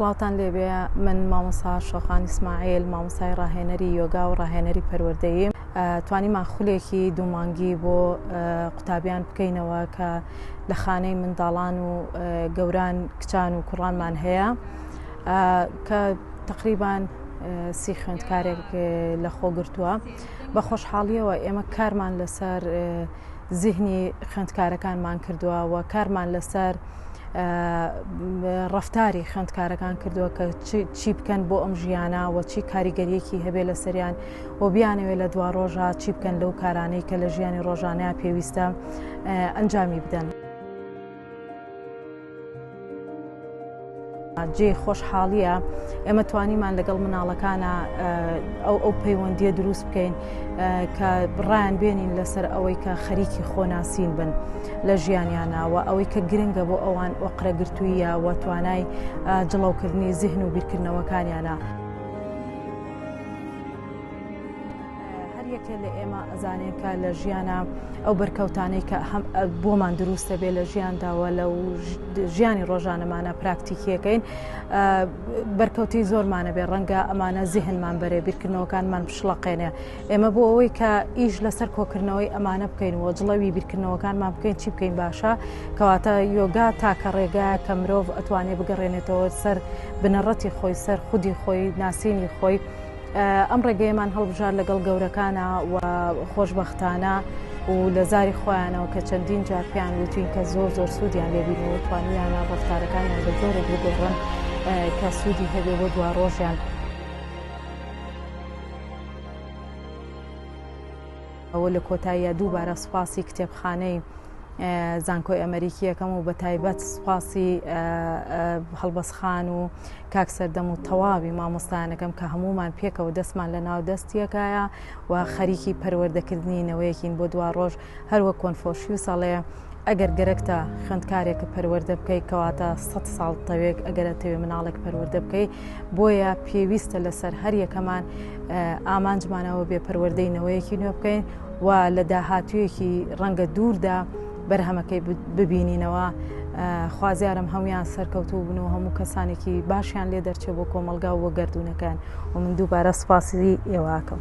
سڵاوان لێبێ من مامۆسا شۆخان ئیسماعیل مامۆسای ڕاهێنەری یۆگا و ڕاهێنەری پەروەردەیم توانیمان خولێکی دوومانگی بۆ قوتابیان بکەینەوە کە لە خانەی منداڵان و گەوران کچان و کوڕانمان هەیە کە تقریبان سی خوێندکارێک لە خۆگرتووە بە خۆشحاڵیەوە ئێمە کارمان لەسەر زیهنی خوێندکارەکانمان کردووە و کارمان لەسەر ڕفتاری خوێندکارەکان کردووە کە چی بکەن بۆ ئەم ژیانە و چی کاریگەریەکی هەبێ لە سەریان و بیانەوێ لە دوا ڕۆژە چی بکەن لەو کارانەی کە لە ژیانی ڕۆژانەیە پێویستە ئەنجامی بدەن. جێی خۆشحاڵییە ئێمە توانیمان لەگەڵ مناڵەکانە ئەو ئەو پەیوەندیە دروست بکەین کە بڕیان بێنین لەسەر ئەوەی کە خەریکی خۆناسین بن لە ژیانیانەوە ئەوەی کە گرنگە بۆ ئەوان ئۆقرەگرتوویە و توانای جڵەوکردنی زیهن و بیرکردنەوەکانیانە. هەر یەکێ لە ئێمە ئەزانێت کە لە ژیانە ئەو بەرکەوتانەی کە هەم بۆمان دروستە بێ لە ژیانداوە لە ژیانی ڕۆژانەمانە پراکتیکیەکەین بەرکەوتی زۆرمانە بێ ڕەنگە ئەمانە زیهنمان بەرێ بیرکردنەوەکانمان پشڵەقێنێ ئێمە بۆ ئەوەی کە ئیش لەسەر کۆکردنەوەی ئەمانە بکەین و جڵەوی بیرکردنەوەکانمان بکەین چی بکەین باشە کەواتە یۆگا تاکە ڕێگا کە مرۆڤ ئەتوانێ بگەڕێنێتەوە سەر بنەڕەتی خۆی سەر خودی خۆی ناسینی خۆی ئەم ڕێگەیەمان هەڵبژار لەگەڵ گەورەکانە و خۆشببختانە و لە زاری خۆیانەوە کە چەندین جار پێیان وتوین کە زۆر زۆر سوودیان لێبینەوە توانیانە ڕفتارەکانیان بە زۆرێک بگۆڕن کە سوودی هەبێ بۆ دوا ڕۆژیان. و لە کۆتاییا دووبارە سوپاسی کتێبخانەی زانکۆی ئەمەریکی یەکەم و بە تایبەت سوپاسی هەڵبەس خان و کاک سەردەم و تەواوی مامۆستانەکەم کە هەمومان پێکەوە دەستمان لە ناو دەستیەکایە و خەریکی پەروەردەکردنی نەوەیەکین بۆ دوا ڕۆژ هەروە کۆنفۆشیوسەڵێ ئەگەر گەرەکتە خوێندکارێک پەروەەردە بکەیت کەواتە سە ساڵ تەوێک ئەگەرە تەوێ مناڵێک پەروەەردە بکەیت بۆیە پێویستە لەسەر هەر یەکەمان ئامانجمانەوە بێ پەروەەردەینەوەیەکی نوێ بکەین و لە داهاتوویەکی ڕەنگە دووردا بەرهەمەکەی ببینینەوە خوازیارم هەمویان سەرکەوتوو بن و هەموو کەسانێکی باشیان لێ دەرچێ بۆ کۆمەلگا و گردردونەکان و من دووبارە سپاسی ئێواکەم.